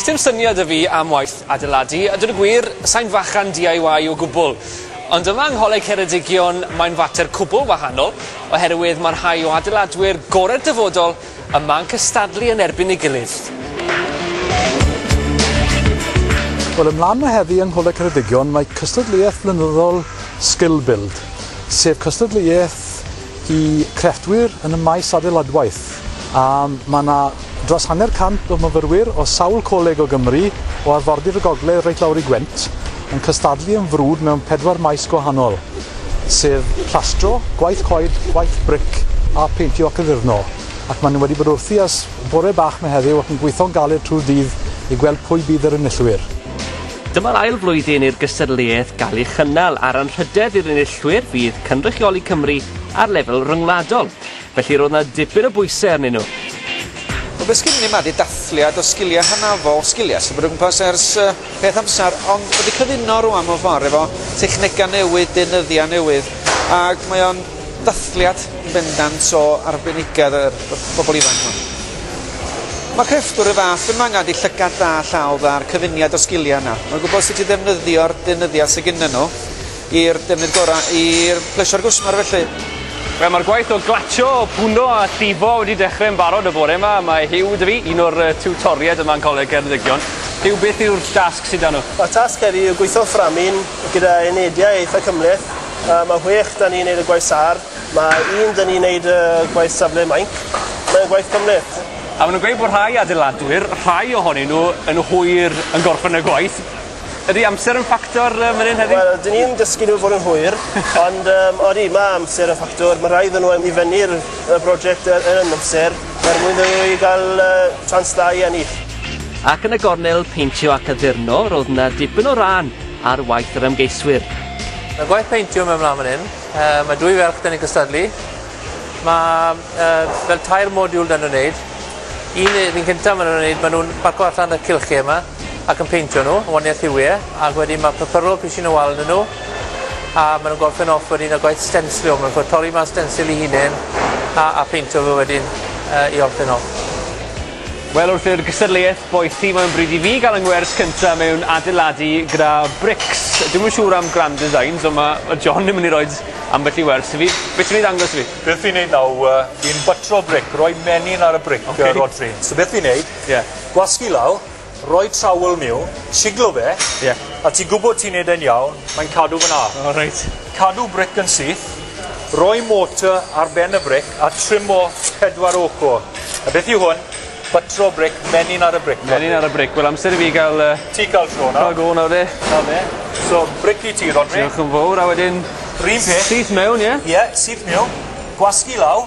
Sdim syniad 'da fi am waith adeiladu, a dweud y gwir, sain fachan DIY o gwbl. Ond yma yng Ngholeg Ceredigion mae'n fater cwbl wahanol, oherwydd mae rhai o adeiladwyr gorau'r dyfodol yma'n cystadlu yn erbyn ei gilydd. Wel ymlaen mae heddi yng Ngholeg Ceredigion mae cystadleuaeth flynyddol Skill Build, sef cystadleuaeth i grefftwyr yn y maes adeiladwaith, a mae 'na dros hanner cant o myfyrwyr o sawl coleg o Gymru, o arfordir y gogledd reit lawr i Gwent, yn cystadlu yn frwd mewn pedwar maes gwahanol, sef plastro, gwaith coed, gwaith bric a pheintio ac addurno, ac maen nhw wedi bod wrthi ers bore bach 'ma heddiw ac yn gweithio'n galed trwy'r dydd i gweld pwy bydd yr enillwyr. Dyma'r ail flwyddyn i'r gystadleuaeth gael ei chynnal a'r anrhydedd i'r enillwyr fydd cynrychioli Cymru ar lefel ryngwladol, felly roedd yna dipyn o bwysau arnyn nhw. Wel be sgynnon ni ma di dathliad o sgilia hanafol, sgilia sydd bod o gwmpas ers yy peth amsar ond wedi cyfuno rwan mewn ffor efo technega newydd, deunyddia newydd ag mae o'n dathliad yn bendant o arbenigedd y bobl ifanc hwn. Mae crefftwyr y fath yma yn ganddi llygad da, llaw dda a'r cyfuniad o sgiliau yna. Mae'n gwybod sut i ddefnyddio'r deunyddiau sydd gyda nhw i'r defnydd gorau i'r plesio'r gwsmer felly. Wel, mae'r gwaith o glatsio, pwno a llifo wedi dechrau yn barod y bore yma. Mae Huw dy fi, un o'r tiwtoriaid yma yn Coleg Ceredigion. Huw, beth yw'r dasg sydd da nhw? Y tasg heddi yw gweithio fframyn gyda unediau eitha cymhleth. A mae chwech da ni'n neud y gwaith sâr. Mae un da ni'n neud y gwaith safle mainc. Mae'n gwaith cymleth. A ma' nw'n gweud bod rhai adeiladwyr, rhai ohonyn nhw yn hwyr yn gorffen y gwaith. Ydi amser yn ffactor yy man 'yn heddi? Wel 'dyn ni'n dysgu nhw fod yn hwyr ond yym odi ma' amser yn ffactor ma' rhaid i nw yym i fynnu'r y broject yy yn yn amser er mwyn iddyn nw i ga'l yy chance da i ennill. Ac yn y gornel peintio ac addurno ro'dd 'na dipyn o ran ar waith yr ymgeiswyr. Mae gwaith peintio mewn mlaen fan hyn. Uh, mae dwy ferch dyn ni'n cystadlu. Mae uh, fel tair modiwl dyn nhw'n wneud. Un yr un cyntaf maen nhw'n wneud, maen nhw'n parco allan y cilchi yma ac yn peintio nhw, yn waniaeth hiwie, ac wedyn mae pypyrol pisin o wal yn nhw, a maen nhw'n gorffen off wedyn y gwaith stenslio, maen nhw'n torri ma'n stensil i hunain, a, a peintio fe wedyn uh, i orffen off. Wel wrth i'r gystadleuaeth boeth ti mae'n bryd i fi gael yng ngwers cyntaf mewn adeiladu gyda brics. Dwi'm yn siŵr am grand designs ond mae ma John yn mynd i roed ambell i wers i fi. Be ti'n mynd i ddangos i fi? Beth fi'n neud naw yy fi'n bytro bric, roi menyn ar y bric... Oce. ...yy Rhodri. So beth fi'n neud... Ie. ...gwasgu lawr Roi trawl miwn, siglo fe. Ie. A ti'n gwybod ti'n neud e'n iawn, mae'n cadw fyna. O reit. Cadw bric yn syth, roi motor ar ben y bric a trimo pedwar ochr. A beth yw hwn? Buttro bric, menyn ar y bric. Menyn ar y bric. Wel amser i fi gael... Uh, ti cael tro nawr. Cael go nawr de. Na fe. So bric i ti Rodri. Diolch yn fawr a wedyn... Rhyn peth. Syth mewn ie? Ie, yeah, syth mewn. Gwasgu law.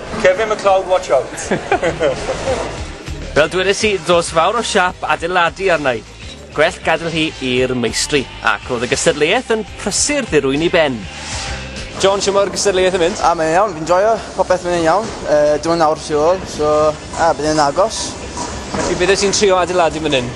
Kevin McLeod watch out. Fel dwedais i, dos fawr o siap adeiladu arna'i. Gwell gadael hi i'r meistri. Ac roedd y gystadleuaeth yn prysur ddirwyn i ben. John, siwr mae'r gystadleuaeth yn mynd? A, mae'n iawn, fi'n joio, popeth mynd yn iawn. E, dim ond awr tu ôl, so, a, bydd yn agos. Felly, bydde ti'n trio adeiladu fan hyn?